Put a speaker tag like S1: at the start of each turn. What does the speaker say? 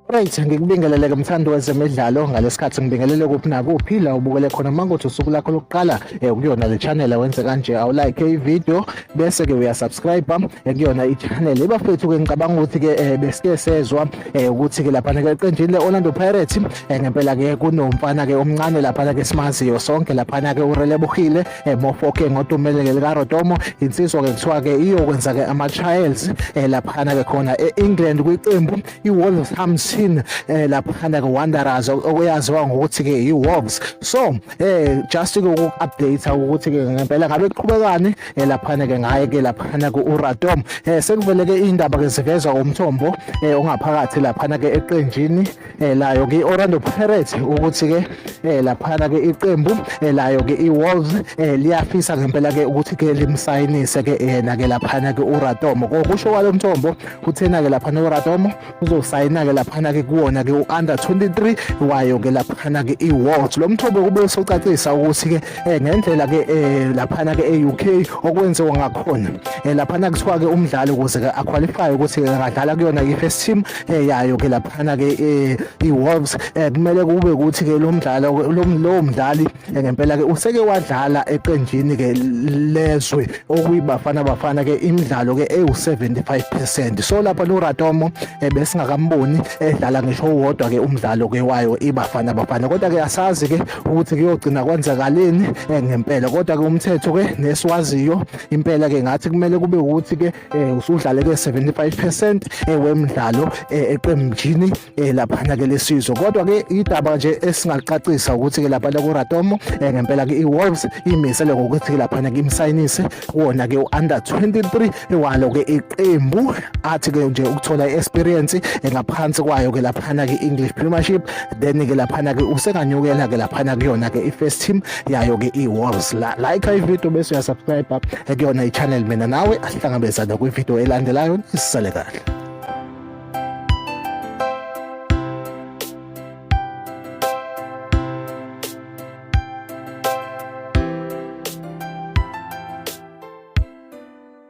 S1: Right, ngikubingelele ke mthandi wezemidlalo ngalesikhathi ngibingelele kuphi nakuphi la ubukele khona mangothi usuku lakho lokuqala eh, kuyona le channel wenze kanje awu like i video bese ke uya subscribe eh, kuyona i channel ibafethu ke ngicabanga ukuthi ke eh, besike sezwa ukuthi ke lapha ke eqenjini le Orlando Pirates eh, ngempela ke kunomfana ke omncane laphana ke simaziyo sonke laphana ke urelebuhile eh, mofoke ngotumele ke likarotomo insizwa ke kuthiwa ke iyokwenza ke ama-trials eh, laphana ke khona e-england kwiqembu i-wolverhampton eh, laphana ke wanderers okuyaziwa ngokuthi ke i-wolves so eh, just ke uku-update ukuthi ke ngempela ngabe kuqhubekani eh, laphana ke ngaye ke laphana ke uratom eh, sekuvele ke iy'ndaba ke zivezwa umthombo eh, ongaphakathi laphana ke eqenjini eh, layo ke i-orlando pirates ukuthi ke eh, laphana ke iqembu eh, layo ke i-wolves eh, liyafisa ngempela ke ukuthi ke limsayinise ke yena ke laphana ke uratomo kokusho kwalo mthombo kuthena ke laphana uratomo uzosayina ke laphana ke kuwona ke u-under 23 wayo ke laphana ke i-wolves lo mthombo kube usocacisa ukuthi ke eh, ngendlela ke eh, laphana ke e-uk okwenziwa ngakhona eh, laphana kuthiwa ke umdlali ukuze ke aqualify ukuthi angadlala kuyona i-first team eh, yayo ke laphana ke eh, iWolves eh, kumele kube ukuthi ke lo mdlalo lo mdlali ngempela ke useke wadlala eqenjini ke lezwe okuyibafana bafana ke imidlalo ke ewu75% so lapha lo Ratomo besingakamboni edlala ngisho wodwa ke umdlalo ke wayo ibafana bafana kodwa ke asazi ke ukuthi kuyogcina kwenzakaleni ngempela kodwa ke umthetho ke nesiwaziyo impela ke ngathi kumele kube ukuthi ke um usudlale-ke 75 percent wemdlalo eqembini laphana-ke lesizwe kodwa-ke idaba nje esingalicacisa ukuthi-ke laphana kuratomo um ngempela-ke i-wolves imisele ngokuthi-ke laphana-ke imsayinise kuwona-ke u-under 23 walo-ke iqembu athi-ke nje ukuthola i-experience ngaphansi kwayo-ke laphana-ke i-english premiership then-ke laphana-ke usenganyukela-ke laphana kuyona-ke i-first team yayo ke i-walls la like ivideo bese uyasubscribe ekuyona i-channel mina nawe asihlangabezane kwivideo elandelayo nisale kahle